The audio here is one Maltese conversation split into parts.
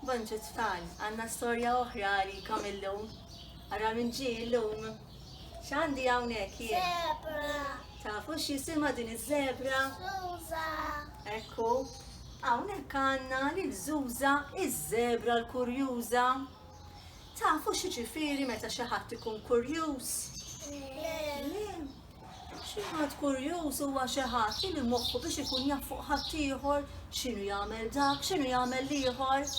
Bonġu tfal, għandna storja oħra għalikom illum. Ara min ġie illum. X'għandi hawnhekk jien? Zebra. Tafu x'jisimha din iż-żebra? Zuża. Ekku, hawnhekk għandna lil Zuża iż-żebra l-kurjuża. Tafu xi ġifieri meta xi ħadd ikun kurjuż? Le. Xi ħadd kurjuż huwa xi ħadd li moħħu biex ikun jaf fuq ħaddieħor, x'inhu jagħmel dak, x'inhu jagħmel l-ieħor.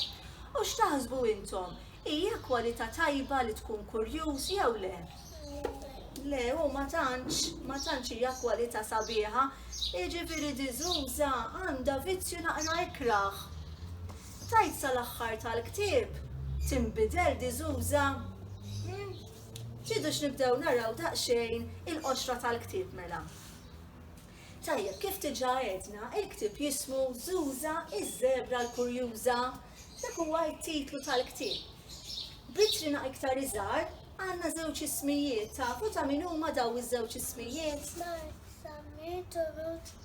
U x'taħsbu intom, hija kwalità tajba li tkun kurjuż jew le? Le, u ma tantx, ma tantx hija kwalità sabiħa. Jiġifieri di żuża għandha vizzju naqra ikrah. Tgħid sal-aħħar tal-ktieb, tinbidel di żuża? Tridux nibdew naraw daqsxejn il-qoxra tal-ktieb mela? Tajjeb, kif diġà għedna, il-ktieb jismu Zuża iż-Żebra l-Kurjuża. Dak huwa t-titlu tal-ktieb. B'itrina iktar iżgħar għandna żewġ ismijiet, tafu ta' min huma dawn iż-żewġ ismijiet? Mark Sammir Turut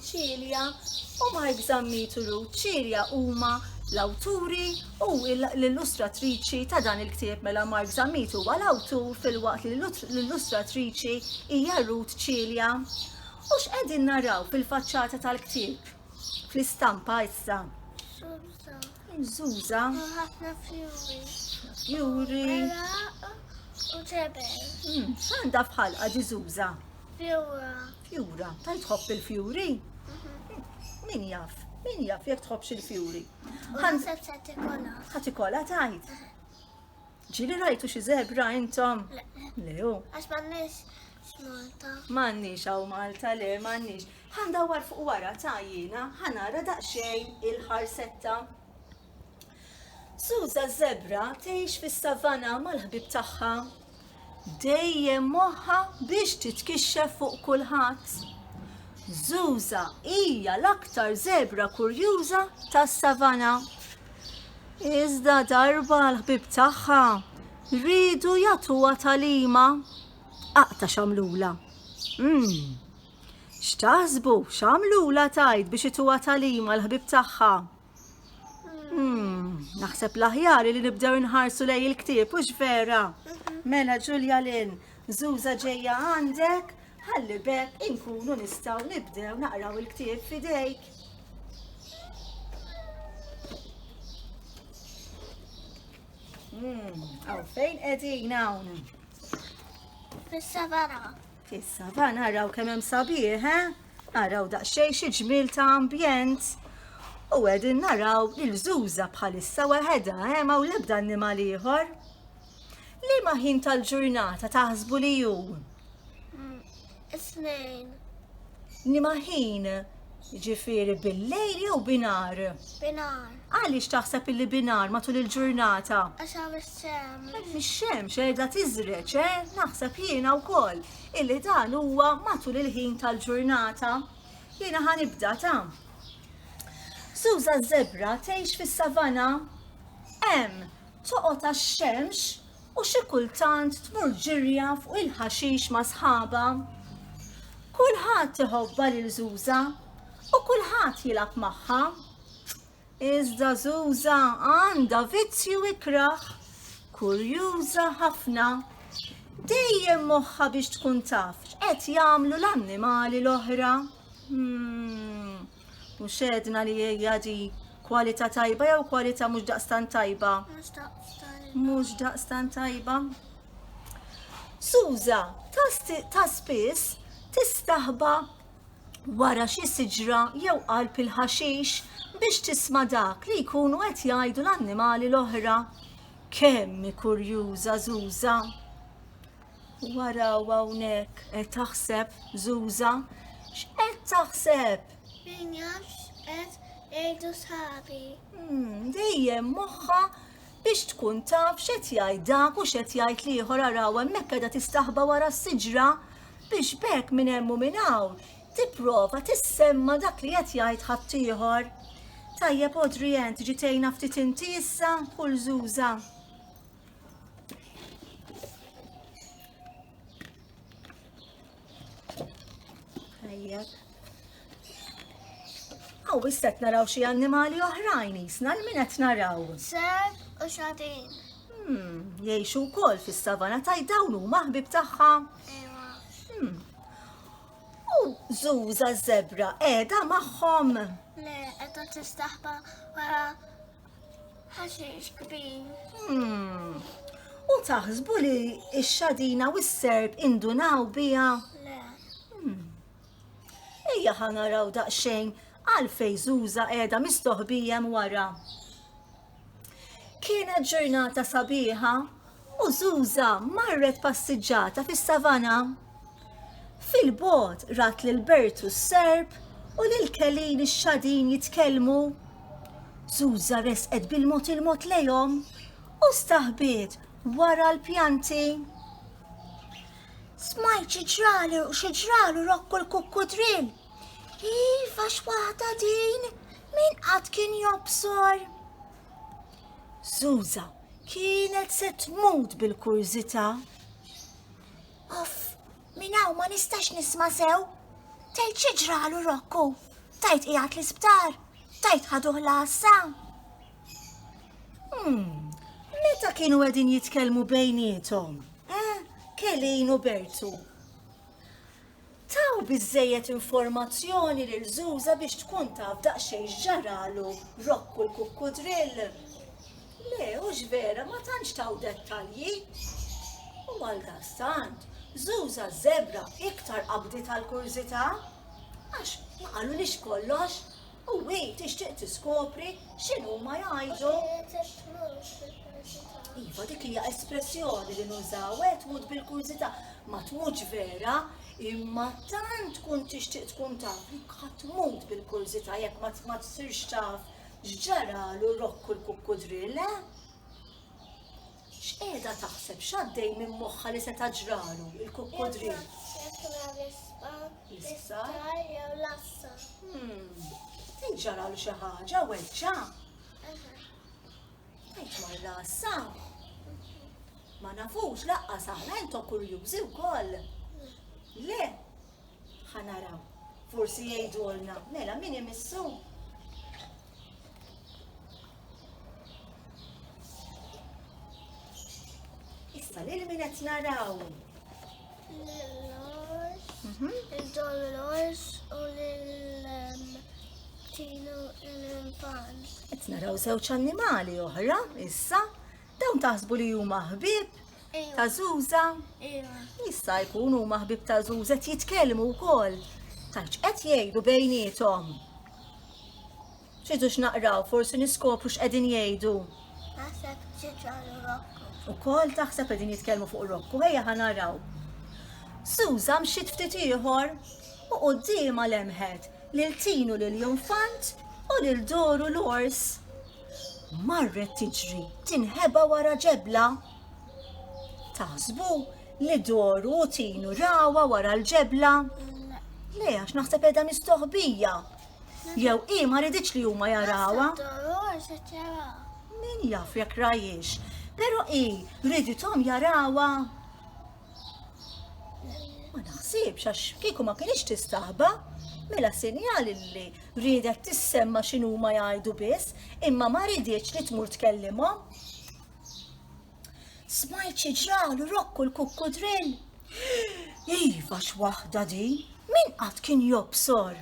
Celia u Mike Zammitulu. Celia huma l-awturi u l-illustratriċi ta' dan il-ktieb mela Mike Zammitu huwa l-awtur fil-waqt li l-illustratriċi hija Ruth Celia. U x'qegħdin naraw fil-faċċata tal-ktieb? Fl-istampa issa. Zuza. Ħafna fjuri. Fjuri. U ġebel. Hmm, x'għandha fħalqa di Zuza? Fjura. Jura, ta' jtħobb il-fjuri? Min jaf, min jaf jek tħobbx il-fjuri. Ħati kola tajt. Ġili rajtu xi zebra intom? Le, u. Għax mannix Malta. Mannix għaw Malta, le, mannix. Għanda war fuq wara ta' jina, ħanara daqxej il-ħarsetta. Suza zebra tgħix fis-savanna mal-ħbib tagħha. Dejjem moħħa biex titkixxef fuq kulħadd. Zuza hija l-aktar zebra kurjuża tas-savanna. Iżda darba l-ħbib tagħha rridu jagħtuha talima. Aqta xamlula. Mmm, X'taħsbu, x'għamlulha tgħid biex ituha tagħlim għall-ħbieb tagħha? Naħseb l-aħjar li nibdew inħarsu lej il-ktieb, hux vera? Mela Ġulja Lin, żuża ġejja għandek, ħalli bekk inkunu nistgħu nibdew naqraw il-ktieb fidejk. Għaw fejn qegħdin hawn? Fis-savana. Issa va naraw kemm hemm sabiħ, eh? Araw daqsxejn xi ġmiel ta' ambjent. U qegħdin naraw il-żuża bħalissa weħedha, eh? Ma' l-ebda annimal ieħor. Liema ħin tal-ġurnata taħsbu li hu? Is-snejn. Liema ħin Ġifiri bil-lejl jew binar? Binar. Għaliex taħseb illi binar matul il-ġurnata? Għax hawn ix-xemx. Hemm ix-xemx qiegħda tiżreġ, eh? Naħseb jiena wkoll illi dan huwa matul il-ħin tal-ġurnata. Jiena ħanibda ta' Suża żebra tgħix fis-savana? Hemm toqgħod għax-xemx u xi kultant tmur ġirja fuq il-ħaxix ma' sħabha. Kulħadd iħobbha lil Żuża u kulħadd jilgħab magħha. Iżda Żuża għandha vizzju ikrah, kurjuża ħafna. Dejjem moħħa biex tkun taf x'qed jagħmlu l-annimali l-oħra. Hmm. U xedna li hija di kwalità tajba jew kwalità mhux daqstan tajba? Mhux daqstan tajba. Suza, ta' spiss tistaħba wara xi siġra jew qalb il-ħaxix biex tisma' dak li jkunu qed jgħidu l-annimali l-oħra. Kemm kurjuża Zuza! Wara u hawnhekk qed taħseb Zuza? X'qed taħseb? Min jafx qed jgħidu sħabi. Hmm, dejjem moħħa biex tkun taf x'qed jgħid dak u x'qed jgħid l-ieħor araw hemmhekk qiegħda tistaħba wara s-siġra biex bekk minn hemm u minn hawn tipprova tissemma dak li qed jgħid ħaddieħor. Tajjeb Odri Ent ġitejna ftit inti issa kull żuża. Aw, issa qed naraw xi annimali oħrajn jisna l min qed naraw. Seb u xatin. Hmm, jgħixu wkoll fis-savana taj dawn huma ħbib tagħha. Hmm. U żuża żebra qiegħda magħhom. Le, qiegħda tistaħba wara Ħaxix kbir. Hmm. U taħsbu li x-xadina u s-serb indunaw bija? Le. Hmm. Ejja ħanaraw daqxejn għal fejżuża qiegħda mistoħbijem wara. Kienet ġurnata sabiħa U Żuża marret passiġġata fis-savana. Fil-bogħod rat lil Bertu s-serp u lil Kelin ix-xadin jitkellmu. Żuża resqet bil-mod il-mod lejhom u staħbiet wara l-pjanti. Smajt xi ġralu, xi ġralu rokku l-kukkudrill. Iva x'waħda din, min qatt kien jobsor. Zuza kienet se tmut bil-kurżità. Uff, minn hawn ma nistax nisma' sew. Tgħid xi ġralu Rokku, tajt qiegħed l-isptar, tajt ħaduh l-għassa. Hmm, meta kienu qegħdin jitkellmu bejniethom, eh, Kelin u Bertu. Taw biżżejjed informazzjoni lil Żuża biex tkun taf daqsxejn x'ġaralu Rokku l-kukkudrill? Le, hux vera, ma tantx taw dettalji. U għaldaqstant, Żuża ż-żebra iktar qabditha l-kurżità, għax ma qalulhiex kollox, U hi tixtieq tiskopri x'inhuma jgħidu. Iva, dik hija espressjoni li nużaw, eh, tmut bil-kurżità, ma tmutx vera, imma tant tkun tixtieq tkun taf li tmut bil-kurżità jekk ma ma tsirx taf x'ġaralu rokku l-kukkudrill, eh? X'qiegħda taħseb, x'għaddej minn moħħha li seta' ġralu l-kukkudrill? Jekk mar l-isptar, l-isptar jew l-għassa. Tgħid ġaralu xi ħaġa, weġġa'? Tgħid mar l-għassa? Ma nafux laqqas aħna intom kurjużi wkoll. Le, ħa naraw. Forsi jgħidulna, mela min imissu? Issa lil min qed naraw? Lil-Lors, mhm. il-Dolores u lil-Tinu l-Pan. Qed naraw żewġ annimali oħra issa dawn taħsbu li huma ħbieb ta' Zuza. Jista' jkun huma ħbieb ta' Zuza qed jitkellmu wkoll. Tax qed jgħidu bejniethom. Ċidu x'naqraw, forsi niskopru x'qegħdin jgħidu. Naħseb ġiġalu rokku. U kol taħseb qegħdin jitkellmu fuq rokku, ħejja ħanaraw. Suza mxiet ftit ieħor u qudiema lemħet lil tinu lil jonfant u lil doru l-ors. Marret tiġri tinħeba wara ġebla Taħsbu li doru u tinu rawa wara l-ġebla? Le, għax naħseb edha mistoħbija. Jew i ma riditx li huma jarawa. Min jaf jekk rajiex, pero i riditom jarawa. Ma naħsibx għax kieku ma kienx tistaħba, mela sinjal li ridet tissemma x'inhuma jgħidu biss, imma ma riditx li tmur tkellimhom. Smajt xi ġralu rokku l-kukkudrill. Iva x'waħda din, min qatt kien jobsor?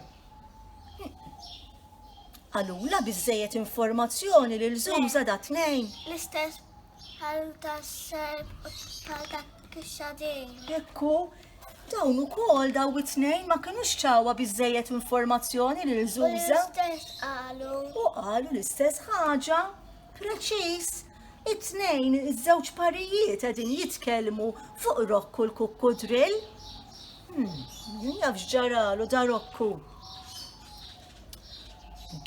Għalula biżejjed informazzjoni lil żuża da tnejn. L-istess bħal tas-serb bħal ta' kixxadin. Ekku, dawn ukoll daw it-tnejn ma kinux ċawa biżejjed informazzjoni lil żuża. L-istess qalu. U qalu l-istess ħaġa. Preċiż, it-tnejn iż-żewġ parijiet qegħdin jitkellmu fuq Rokku l-kukku drill. Hmm, min jafx ġaralu da Rokku.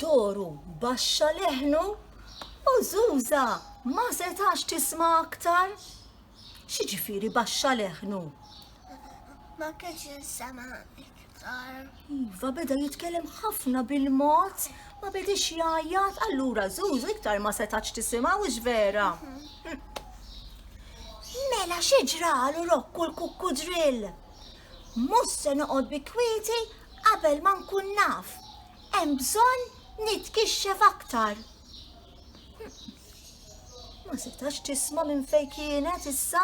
Doru baxxa leħnu u Zuza ma setax tisma' aktar. Xiġifieri baxxa leħnu? Ma kienx insema iktar. Iva beda jitkellem ħafna bil-mod, ma bedix jgħajjat, allura Zuzu iktar ma setax tisimgħu vera. Mhm. Mela xi ġralu rokku l-kukku drill. Mhux se noqgħod bi kwieti qabel ma nkun naf. Hemm bżonn nitkixxef aktar. Ma setax tisma' minn fejn kienet issa.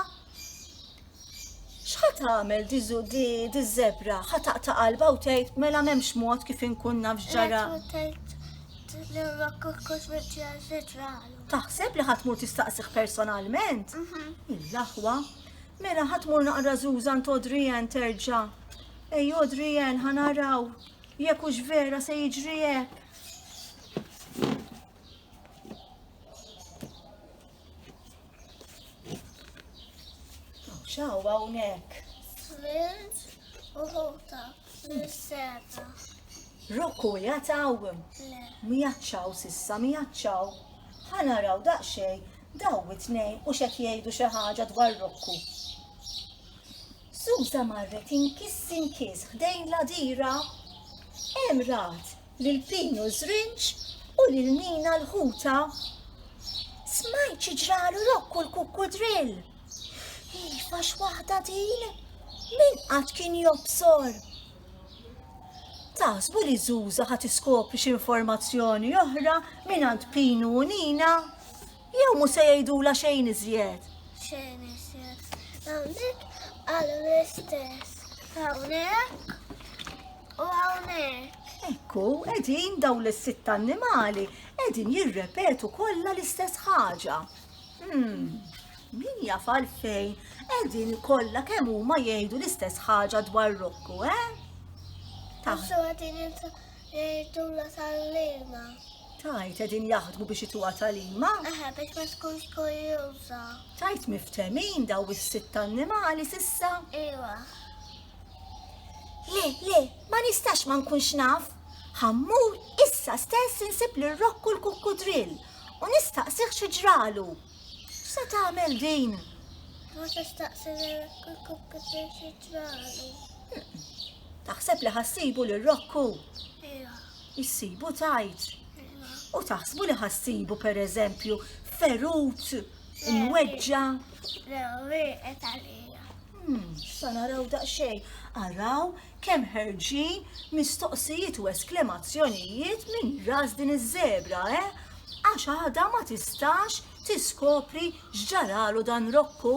X'ħa tagħmel di zu- di- di żebra? Ħa taqta' qalba u tgħid mela m'hemmx mod kif inkun naf x'ġara. Taħseb li ħatmur tistaqsih personalment? Il-laħwa. Mela ħatmur naqra Zuzan t'Odrijan terġa'. Ej Odrijan ħa naraw jekk hux vera se jiġri hekk. Xaw hawnhekk. Flint u ħuta mis-seta. Rokku jataw. Le. Mijaċċaw sissa mijaċċaw. Ħa naraw daqsxejn daw it-tnejn u xek jgħidu xi ħaġa dwar Rokku. Susa marret inkis inkis ħdejn la dira. Hemm rat lil Pinu Żrinġ u lil Nina l-ħuta. Smajt xi ġralu Rokku l-kukkudrill. Iva x'waħda din? Min qatt kien jobsor? Taħsbu li Zuza ħat iskopri xi informazzjoni oħra mingħand Pinu u Nina? Jew mhux se jgħidulha xejn iżjed? Xejn iżjed. Hawnhekk qalu l-istess. Hawnhekk u hawnhekk. Ekku, qegħdin dawn is-sitt annimali qegħdin jirrepetu kollha l-istess ħaġa. Hmm, min jaf għalfejn qegħdin kollha kemm huma jgħidu l-istess ħaġa dwar Rokku, eh? Taħsu għadin jgħidu la tal-lima. Tajt qegħdin jaħdmu biex ituha talima? Aha, biex ma tkunx kurjuża. Tajt miftemin daw is-sitt annimali sissa? Iwa. Le, le, ma nistax ma nkunx naf. Ħammur issa stess insib l rokku l-kukkudrill u nistaqsih xi ġralu. X'se tagħmel din? Ma tistaqsi l-rokku l-kukkudrill xi ġralu. Taħseb li ħassibu l rokku Iwa. Issibu tgħid. U taħsbu li ħa ssibu pereżempju ferut imweġġa'? Le, wieqet għalija. Hmm, sa naraw daqsxejn. Araw kemm ħerġin mistoqsijiet u esklemazzjonijiet minn ras din iż-żebra, eh? Għax għadha ma tistax tiskopri x'ġaralu dan Rokku.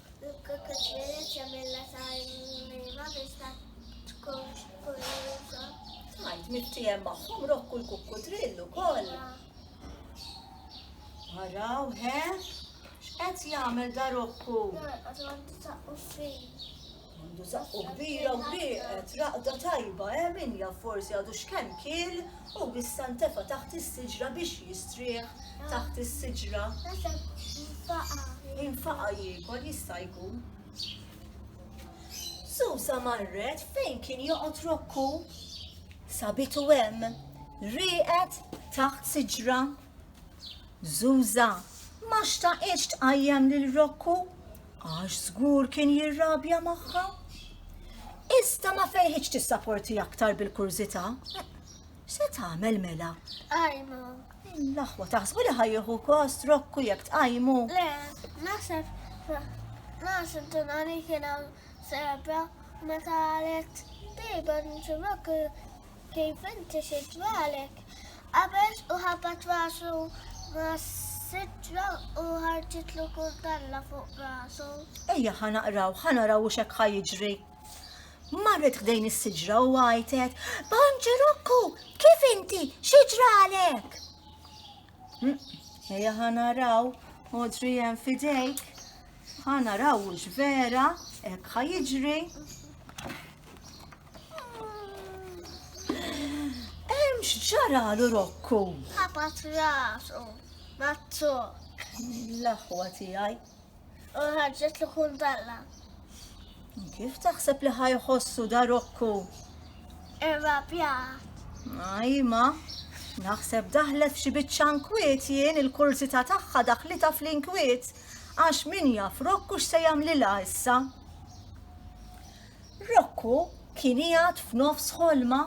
Mittiehem magħhom rokku l-kukkudrill ukoll. Araw, he? X'qed jagħmel da rokku? Għandu zaqqu kbira u wieqed, raqda tajba, he? Min jaf forsi għadu x'kemm kiel? U b'issa ntefa' taħt is-siġra biex jistrieħ taħt is-siġra. Infaqa' jiekol jista' jkun. Susa marret fejn kien joqgħod Rokku. Sabitu hemm rieqed taħt siġra. Zuża ma xtaqitx tqajjem lil Rokku għax żgur kien jirrabja magħha. Iżda ma fejħitx tissaporti aktar bil-kurżità. Se tagħmel mela? Ajma. L-aħwa taħsbu li ħajjuħu kost Rokku jekk tqajmu. Le, naħseb naħseb tunani kien serba meta għalet dejba nċurok Kif inti xi dwarek? Qabeż u ħabat rasu mas-sitra u ħarġitlu kuntalla fuq rasu. Ejja ħa naqraw, ħa naraw u xek ħa jiġri. Marret ħdejn is-siġra u għajtet, Bonġerokku, kif inti, xi ġralek? Ejja ħa naraw, Audrey hemm fidejk. Ħa naraw hux vera hekk ħa jiġri. Hemm x'ġaralu Rokku. Ħabat rasu, mazzu. L-aħwa tiegħi. u ħarġet l kuntalla. Kif taħseb li ħajħossu da Rokku? Irrapjat. Ajma, naħseb daħlet f'xi biċċa nkwiet jien il-kurzita tagħha daħlita fl-inkwiet għax min jaf Rokku x'se jagħmlilha issa. Rocco kien qiegħed f'nofs ħolma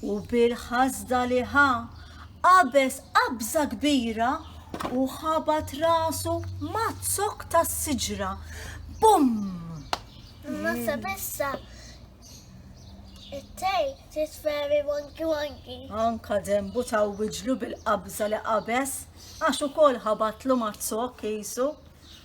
u bil-ħasda li ħa qabeż qabża kbira u ħabat rasu maz-zokk tas-siġra. Bum! Massa bissa it-tej tisferi wonki wonki. Anka dembu ta' wiġlu bil-qabża li qabeż għax ukoll ħabatlu maz-zokk qisu.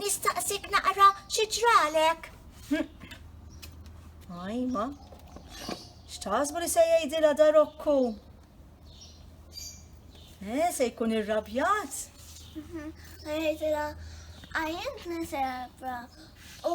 Nistaqsik naqra xi ġralek? Ajma, x'taħsbu li se jgħidilha darokku? Eh, se jkun irrabjat? Jgħidilha għajjent nisebra u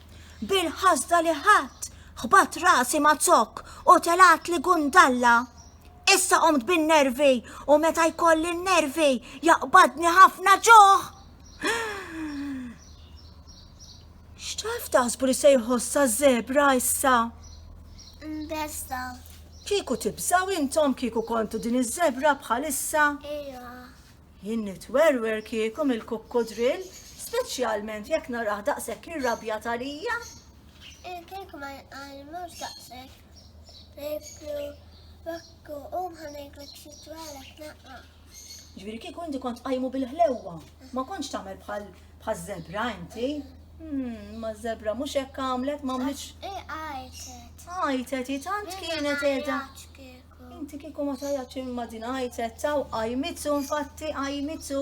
bil-ħasda li ħadd ħbat rasi ma' zokk u telat li gundalla. Issa qomt bin-nervi u meta jkolli n-nervi jaqbadni ħafna ġuħ. X'taf taħsbu li se jħossa zebra issa? Mbesta. Kieku tibżaw intom kieku kontu din iż-żebra bħalissa? Ejja. Jien nitwerwer kieku mill-kukkudrill, speċjalment jekk narah daqshekk irrabjat għalija. Jien kieku ma jinqalmux daqshekk. Ngħidlu Rokku, qum ħa ngħidlek xi twelek naqra. Ġifieri kieku inti kont qajmu bil-ħlewwa, ma kontx tagħmel bħal bħaż-żebra inti. Hmm, ma żebra mhux hekk għamlet, ma għamlitx. Għajtet. Għajtet, hi tant kienet qiegħda. Rebecca. Inti kieku ma tajatx imma din għajtet taw qajmitu infatti qajmitu.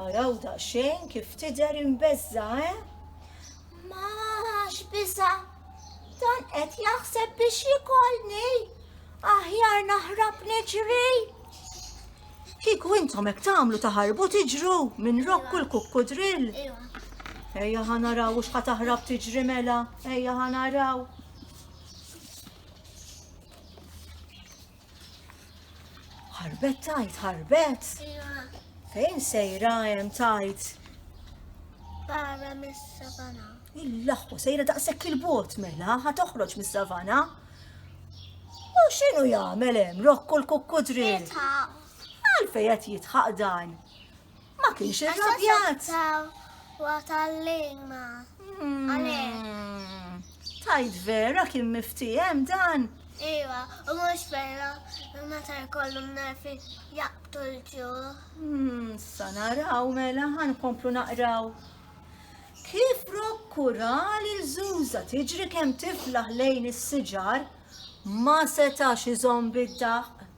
Araw daqsxejn kif tidher imbeżża, eh? Ma x'biża' dan qed jaħseb biex jikolni. Aħjar naħrab niġri. Kieku intom hekk tagħmlu taħarbu tiġru minn rokku l-kukku drill. Ejja ħanaraw u xħat taħrab tiġri mela, ejja ħanaraw. Ħarbet tajt, ħarbet. Fejn sejra hemm tajt? Barra mis-savana. Il-laħwa sejra daqshekk il-bot mela ħa toħroġ mis-savana. U x'inhu jagħmel hemm rokku l-kukkudri? Għalfejn qed jitħaq dan? Ma kienx irrabjat. Wa tal-lejma. Hmm. Tajt vera kien miftijem dan. Iva, u mux vera, meta jkollu nerfi jaqtu l-ġu. Hmm, sa naraw mela ħan komplu naqraw. Kif prokkura li l-żuża tiġri kemm tiflaħ lejn is-siġar, ma setax iżomm bid-daq.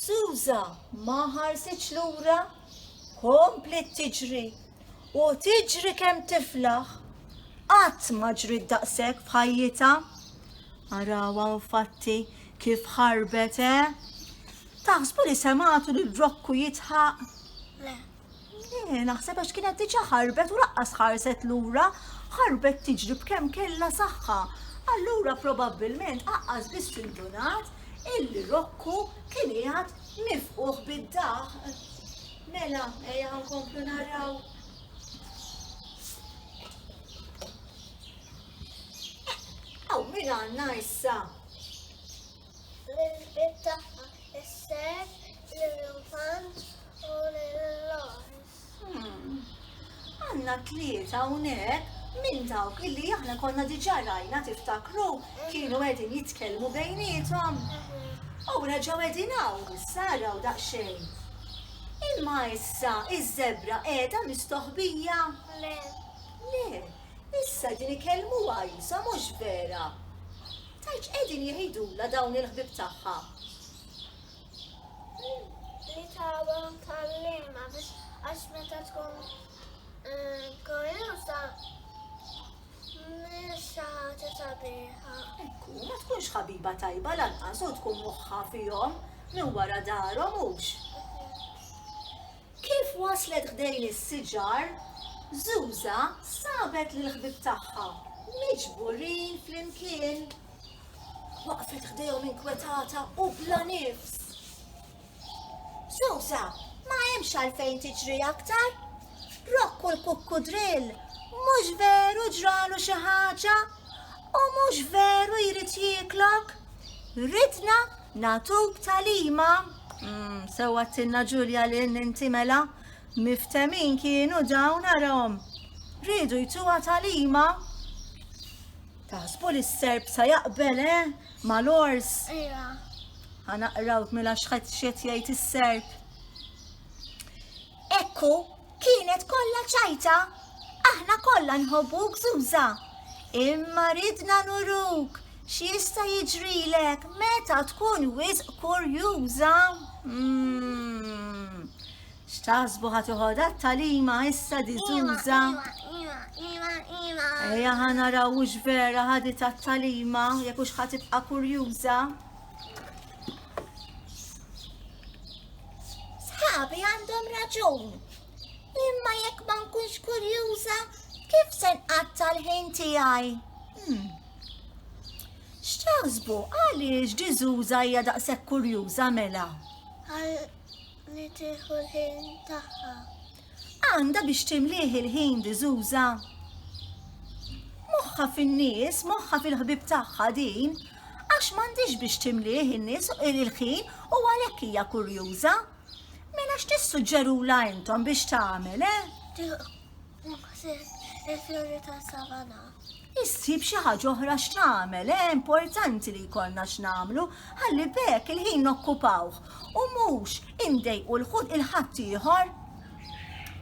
Susa ma ħarsitx lura, kompliet tiġri u tiġri kemm tiflaħ. Qatt ma ġriet daqshekk f'ħajjitha. Arawha infatti kif ħarbet, eh? Taħsbu li semgħatu lil Rokku jidħaq? Le. Le, naħseb għax kienet diġà ħarbet u laqqas ħarset lura, ħarbet tiġri b'kemm kellha saħħa. Allura probabbilment aqqas biss indunat illi Rokku kien qiegħed nifquh bid-daħq. Mela, ejja nkomplu naraw. Aw, min għandna issa? L-ilbieb tagħha isser lill-infant u lill-għors. Hmm. Għandna tlieta hawnhekk minn dawk illi aħna konna diġà rajna tiftakru kienu qegħdin jitkellmu bejnietom. U reġgħu qegħdin hawn saraw daqsxejn. Imma issa iż-żebra qiegħda mistoħbija. Le. Le, issa din ikellmu għajsa mhux vera. Tgħid x'qegħdin jgħidulha dawn il-ħbieb tagħha. Li tagħha tgħallimha biex għax meta tkun kuraża mhijiex xi ħaġa sabiħa. Ekku, ma tkunx ħabiba tajba lanqas u tkun moħħha fihom minn wara darhom hux? Kif waslet ħdejn is-siġar, Zuża sabet lill-ħbieb tagħha miġburin flimkien. Waqfet ħdejhom inkwetata u bla nifs. Zuża, ma hemmx għalfejn tiġri aktar. Rokku l-kukkudrill mhux veru ġralu xi ħaġa u mhux veru jrid jieklok. Ridna Nagħtuk tagħlima? Sewwa għedtilna Ġulja lil inti mela. Miftemin kienu dawn arahom. Riedu jtuha tagħlima? Taħsbu li s-Serb sa jaqbel, eh? Mal-għors? Ejja. Ħa naqrawk mela x'qed x'qed jgħid is-Serb. Hekk hu, kienet kollha ċajta. Aħna kollha nħobbuk Zuża. Imma ridna nuruk x'jista' jiġrilek meta tkun wisq kurjuża. Mm. X'taħsbu ħa toħodha t-talima issa di Zuża? Ejja ħa naraw hux vera ħadi tat-talima jekk hux ħa tibqa' kurjuża. Sħabi għandhom raġun. Imma jekk ma nkunx kurjuża, kif se nqatta' l-ħin tiegħi? Hmm. X'taħsbu għaliex diżuża hija daqshekk kurjuża mela? Għal li tieħu l-ħin tagħha. Għandha biex timlih il-ħin diżuża. Moħħha fin-nies, moħħha fil-ħbieb tagħha din, għax m'għandhiex biex timlih in-nies il-ħin u għalhekk hija kurjuża. Mela x'tissuġġerulha intom biex tagħmel, eh? Tieħu ħsieb il-fjuri tas-savana. issib xi ħaġa oħra x'tagħmel, eh importanti li jkollna x'nagħmlu ħalli b'hekk il-ħin nokkupawh u mhux indejqu lil ħadd ieħor.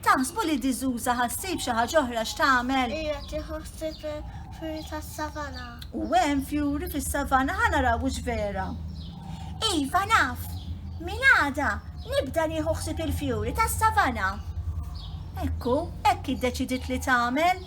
Taħsbu li D'Souza ħa ssib xi ħaġa oħra x'tagħmel? Hija tieħu ħsieb il-fjuri tas-savanna. U hemm fjuri fis-savanna, ħa naraw hux vera. Iva naf, minn għada nibda nieħu ħsieb il-fjuri tas-savanna. Hekk hu, hekk iddeċidiet li tagħmel.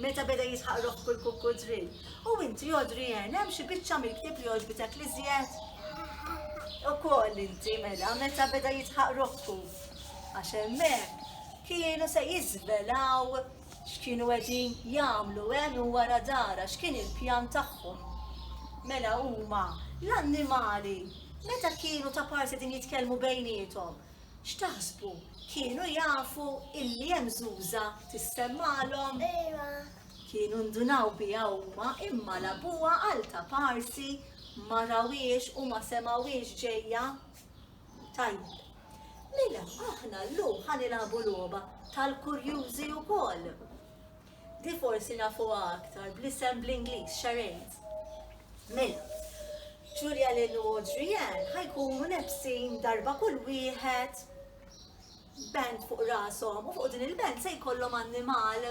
Meta beda jisħaq ruħ kull kukkudrill. U inti, Adrienne, hemm xi biċċa mill-ktieb li għoġbitek l-iżjed? Ukoll inti, mela, meta beda jisħaq ruħku. Għax hemmhekk kienu se jiżvelaw x'kienu qegħdin jagħmlu hemm u wara dara, x'kien il-pjan tagħhom. Mela huma, l-annimali, meta kienu ta' parsi qegħdin jitkellmu bejniethom, X'taħsbu, kienu jafu illi hemm Żuża tissemmagħlhom? Ejwa. Kienu ndunaw biha huma imma labuha għal ta' parsi ma rawhiex u ma semgħuhiex ġejja. Tajjeb. Mela aħna llum ħa nilagħbu logħba tal-kurjużi wkoll. Di forsi nafuha aktar bl-isem bl-Ingliż Charades. Mela, Julia Lynn u Audrey Ann ħa jkunu lebsin darba kull wieħed band fuq rashom u fuq din il-band se jkollhom annimal.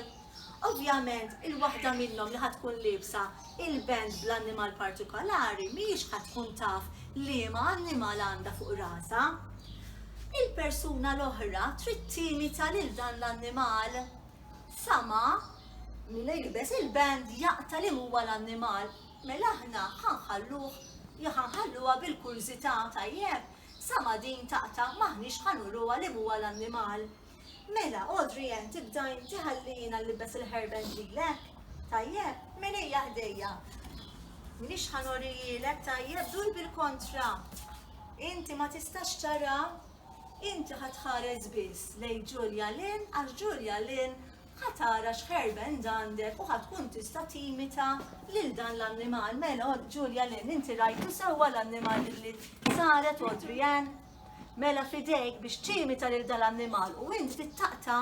Ovvjament, il-waħda minnhom li ħa tkun liebsa il-band bl-annimal partikolari mhijiex ħa tkun taf liema annimal għandha fuq rasha. Il-persuna l-oħra trid timita lil dan l-annimal. Sama mila jilbes il-band jaqta' li huwa l-annimal, mela aħna ħa nħalluh jew ħa nħalluha bil-kurżità, tajjeb? Sama din taqta' m'aħniex ħa nuruha li huwa l-annimal. Mela, Audrey Ann, tibda inti ħalli jiena nlibbes il-hairband lilek, tajjeb? Mela ejja ħdejja. M'inix ħa norihielek, tajjeb? Dur bil-kontra. Inti ma tistax tara Inti ħa tħares biss lejn Julia Lynn għax Julia Lynn ħa tara x'hairband għandek u ħa tkun tista' timita lil dan l-annimal. Mela, Julia Lynn, inti rajtu sewwa l-annimal li saret Audrey Ann? Mela fidejk biex timita lil dan l-annimal u inti taqta'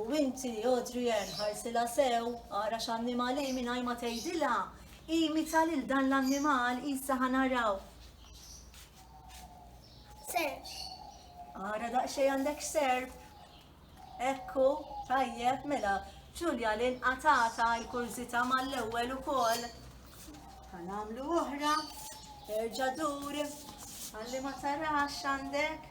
U inti, Adrian, ħarsilha sew, ara x'annimal hi mingħajr ma tgħidilha. Imita lil dan l-annimal, issa ħa naraw. Serp. Ara daqsxejn għandek serp. Ekku, tajjeb, mela, Ġulja li nqatata l-kurżità mal-ewwel ukoll. Ħa nagħmlu oħra, erġa' dur, ħalli ma tarax għandek.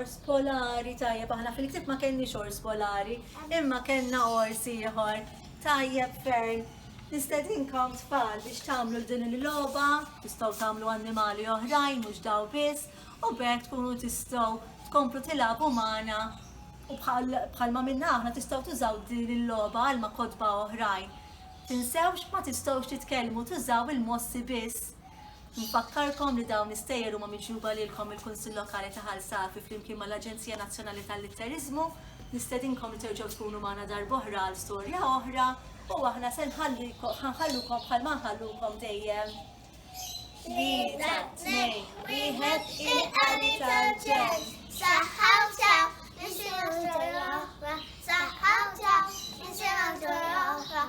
ors polari, tajjeb, aħna fil-ktib ma kenni ors polari, imma kenna ors ieħor, tajjeb ferm, Nistedinkom tfal biex tagħmlu din il-logħba, tistgħu tagħmlu annimali oħrajn mhux daw biss, u b'hekk tkunu tistgħu tkomplu tilagħbu magħna u bħalma minna aħna tistgħu tużaw din il-logħba għal ma' kotba oħrajn. Tinsewx ma tistgħux titkellmu tużaw il-mossi biss. Nfakkarkom li dawn l-istejjer huma miġjuba lilkom mill-Kunsill Lokali ta' Ħal Safi flimkien mal-Aġenzija Nazzjonali tal-Litteriżmu. Nistedinkom li terġgħu tkunu magħna darb'oħra għal storja oħra u aħna se nħallikom ħa nħallukom bħalma nħallukom dejjem. Tlieta, tnejn, wieħed il-qari tal-ġenn. Saħħa u sew, nisimgħu storja oħra. Saħħa u sew, nisimgħu storja oħra.